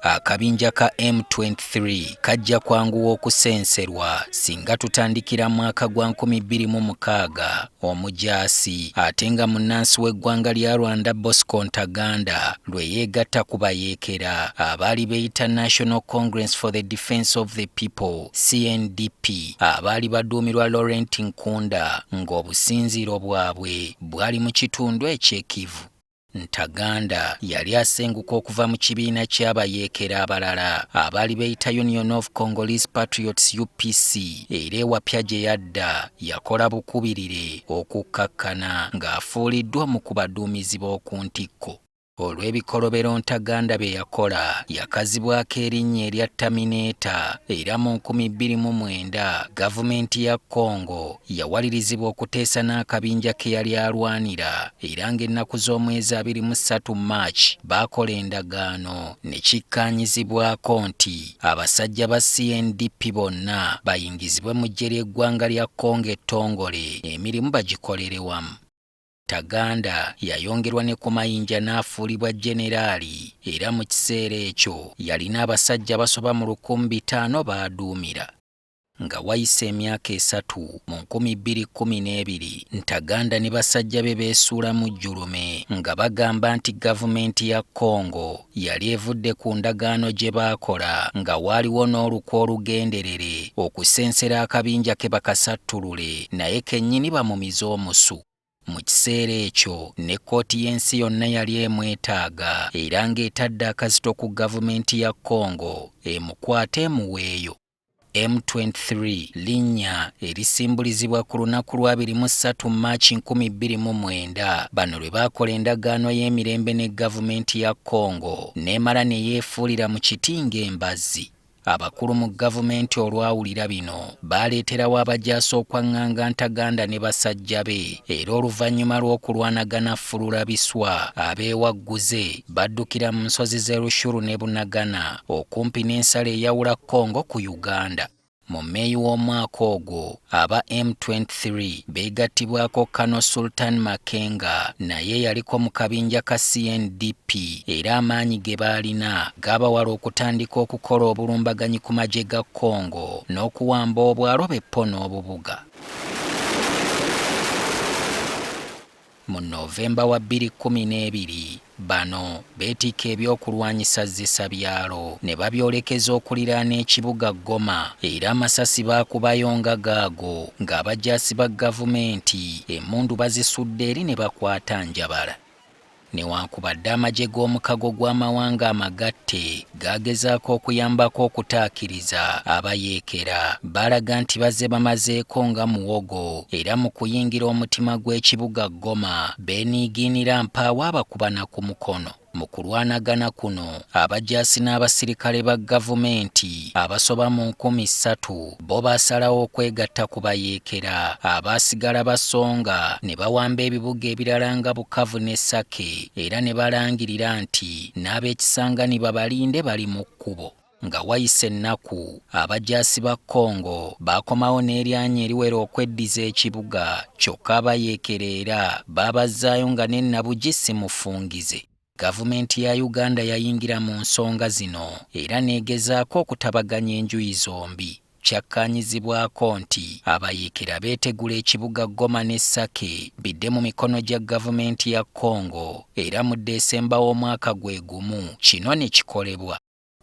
Akabinja ka M23 kajja kwanguwa okusenserwa singa tutandikira mwaka gwa 2006 omujaasi ate nga munnansi w'eggwanga lya Rwanda Bosco Ntaganda lwe yeegatta ku bayeekera abaali beeyita National Congress for the Defence of the People CNDP abaali baduumirwa Laurent Nkunda ng'obusinziiro bwabwe bwali mu kitundu eky'e Kivu. Ntaganda yali asenguka okuva mu kibiina ky'abayeekera abalala abaali beeyita Union of Congolese Patriots UPC era ewapya gye yadda yakola bukubirire okukkakkana ng'afuuliddwa omu ku baduumizi b'oku ntikko. olw'ebikolobero Ntaganda bye yakola yakazibwako erinnya erya Terminator era mu nkumi bbiri mu mwenda gavumenti ya Congo yawalirizibwa okuteesa n'akabinja ke yali alwanira era ng'ennaku z'omwezi abiri mu ssatu March baakola endagaano ne kikkaanyizibwako nti abasajja ba CNDP bonna bayingizibwe mu ggye ly'eggwanga lya Congo ettongole emirimu bagikolere wamu. Taganda yayongerwa ne ku mayinja n'afuulibwa jjeneraali era mu kiseera ekyo yalina abasajja abasoba mu lukumi bitaano b'aduumira. Nga wayise emyaka esatu, mu nkumi bbiri kkumi n'ebiri, Ntaganda ne basajja be beesuula mu jjulume nga bagamba nti gavumenti ya Congo yali evudde ku ndagaano gye baakola nga waaliwo n'olukwe olugenderere okusensera akabinja ke bakasattulule naye kennyini bamumize omusu. Mu kiseera ekyo ne kkooti y'ensi yonna yali emwetaaga era ng'etadde akazito ku gavumenti ya Congo emukwate emuweeyo. M23 linnya erisimbulizibwa ku lunaku lwa 23 March 2029 bano lwe baakola endagaano y'emirembe ne gavumenti ya Congo n'emala ne yeefuulira mu kiti ng'embazzi abakulu mu gavumenti olwawulira bino baaleeterawo abajaasi okwaŋŋanga ntaganda ne basajja be era oluvannyuma lw'okulwanagana ffulula biswa abeewagguze baddukira mu nsozi z'e Rushuru ne Bunagana okumpi n'ensalo eyawula Congo ku Uganda. Mu Meeyi w'omwaka ogwo, aba M23 beegattibwako Kano Sultan Makenga naye eyaliko mu kabinja ka CNDP era amaanyi ge baalina gaabawala okutandika okukola obulumbaganyi ku magye ga Congo n'okuwamba obwalo be Ppo n'obubuga. Mu November wa bbiri kkumi n'ebiri, bano beetikka ebyokulwanyisa zzisa byalo ne babyolekeza okuliraana ekibuga Goma era amasasi baakubayo nga gaago ng'abajaasi ba gavumenti emmundu bazisudde eri ne bakwata Njabala. Newankubadde amagye g'omukago gw'amawanga amagatte gaagezaako okuyambako okutaakiriza abayeekera baalaga nti bazze bamazeeko nga muwogo era mu kuyingira omutima gw'ekibuga Goma beeniigiinira mpaawo abakubana ku mukono mu kulwanagana kuno abajaasi n'abasirikale ba gavumenti abasoba mu nkumi ssatu bo baasalawo okwegatta ku bayeekera abaasigala basonga ne bawamba ebibuga ebirala nga bukavu ne sake era ne balangirira nti n'ab'ekisangani babalinde bali mu kkubo nga wayise ennaku abajaasi ba congo baakomawo n'eryanyi eriwera okweddiza ekibuga kyokka abayeekera era baabazzaayo nga n'ennabugi simufungize Gavumenti ya Uganda yayingira mu nsonga zino era n'egezaako okutabaganya enjuyi zombi. Kyakkaanyizibwako nti abayeekera beetegula ekibuga Goma ne Sake bidde mu mikono gya gavumenti ya Congo era mu Ddesemba w'omwaka gwe gumu kino ne kikolebwa.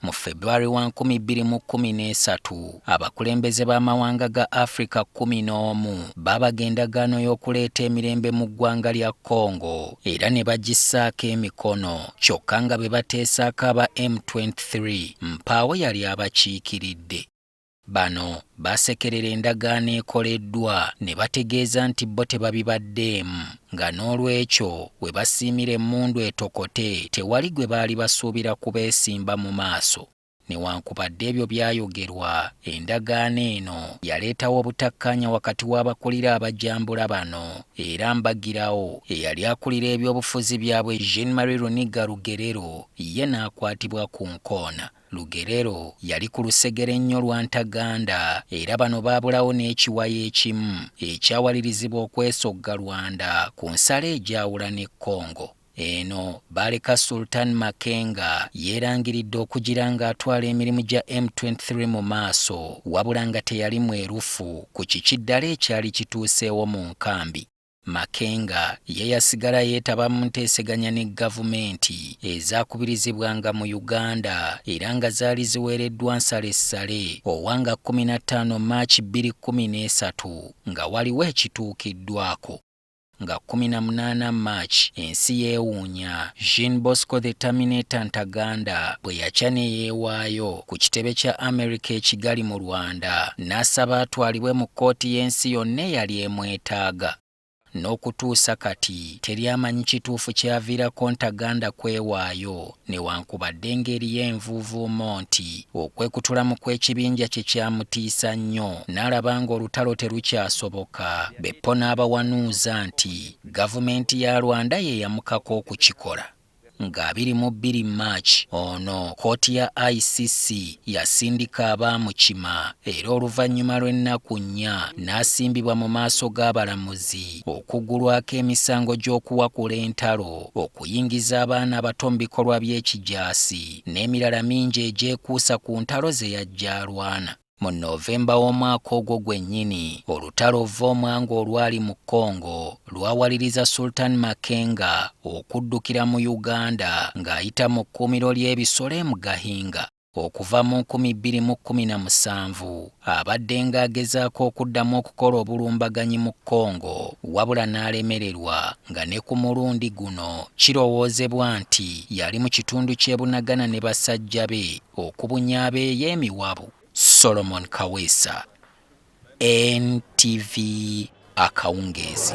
Mu February wa 2013 abakulembeze b'amawanga ga Africa 11 baabaga endagaano y'okuleeta emirembe mu ggwanga lya Congo era ne bagissaako emikono kyokka nga be bateesaako aba M23 mpaawo yali abakiikiridde. Bano baasekerera endagaano ekoleddwa ne bategeeza nti bo tebabibaddeemu nga n'olwekyo we basiimira emmundu etokote tewali gwe baali basuubira kubeesimba mu maaso newankubadde ebyo byayogerwa endagaano eno yaleetawo obutakkaanya wakati w'abakulira abajambula bano era mbagirawo eyali akulira ebyobufuzi byabwe Jean Marie Runiga Rugerero ye n'akwatibwa ku nkoona. Lugerero yali ku lusegere nnyo lwa Ntaganda era bano baabulawo n'ekiwayi ekimu ekyawalirizibwa okwesogga Rwanda ku nsalo egyawula ne Congo. Eno baaleka Sultan Makenga yeerangiridde okugira ng'atwala emirimu gya M23 mu maaso wabula nga teyali mwerufu ku kiki ddala ekyali kituuseewo mu nkambi. Makenga ye yasigala yeetaba mu nteeseganya ne gavumenti ezaakubirizibwanga mu Uganda era nga zaali ziweereddwa nsalessale Owanga 15 March 2013 nga waliwo ekituukiddwako nga 18 March ensi yeewuunya Jean Bosco the Terminator Ntaganda bwe yakya ne yeewaayo. ku kitebe kya Amerika e Kigali mu Rwanda n'asaba atwalibwe mu kkooti y'ensi yonna eyali emwetaaga. N'okutuusa kati teri amanyi kituufu kyaviirako Ntaganda kwewaayo newankubadde ng'eriyo envuuvuumo nti okwekutulamu kw'ekibinja kye kyamutiisa nnyo n'alaba ng'olutalo terukyasoboka beppo n'abawanuuza nti gavumenti ya Rwanda ye yamukaka okukikola. Nga biri mu bbiri March ono kkooti ya ICC yasindika abaamukima era oluvannyuma lw'ennaku nnya n'asimbibwa mu maaso g'abalamuzi okuggulwako emisango gy'okuwakula entalo, okuyingiza abaana abato mu bikolwa by'ekijaasi n'emirala mingi egyekuusa ku ntalo ze yajja alwana. Mu Novemba w'omwaka ogwo gwennyini, olutalo Vvomwanga olwali mu Congo lwawaliriza Sultan Makenga okuddukira mu Uganda ng'ayita mu kkuumiro ly'ebisolo e Mugahinga. Okuva mu 2017, abaddenga agezaako okuddamu okukola obulumbaganyi mu Congo wabula n'alemererwa nga ne ku mulundi guno kirowoozebwa nti yali mu kitundu ky'e Bunagana ne basajja be okubunya abeeyemiwabu. Solomon Kaweesa, NTV Akawungeezi.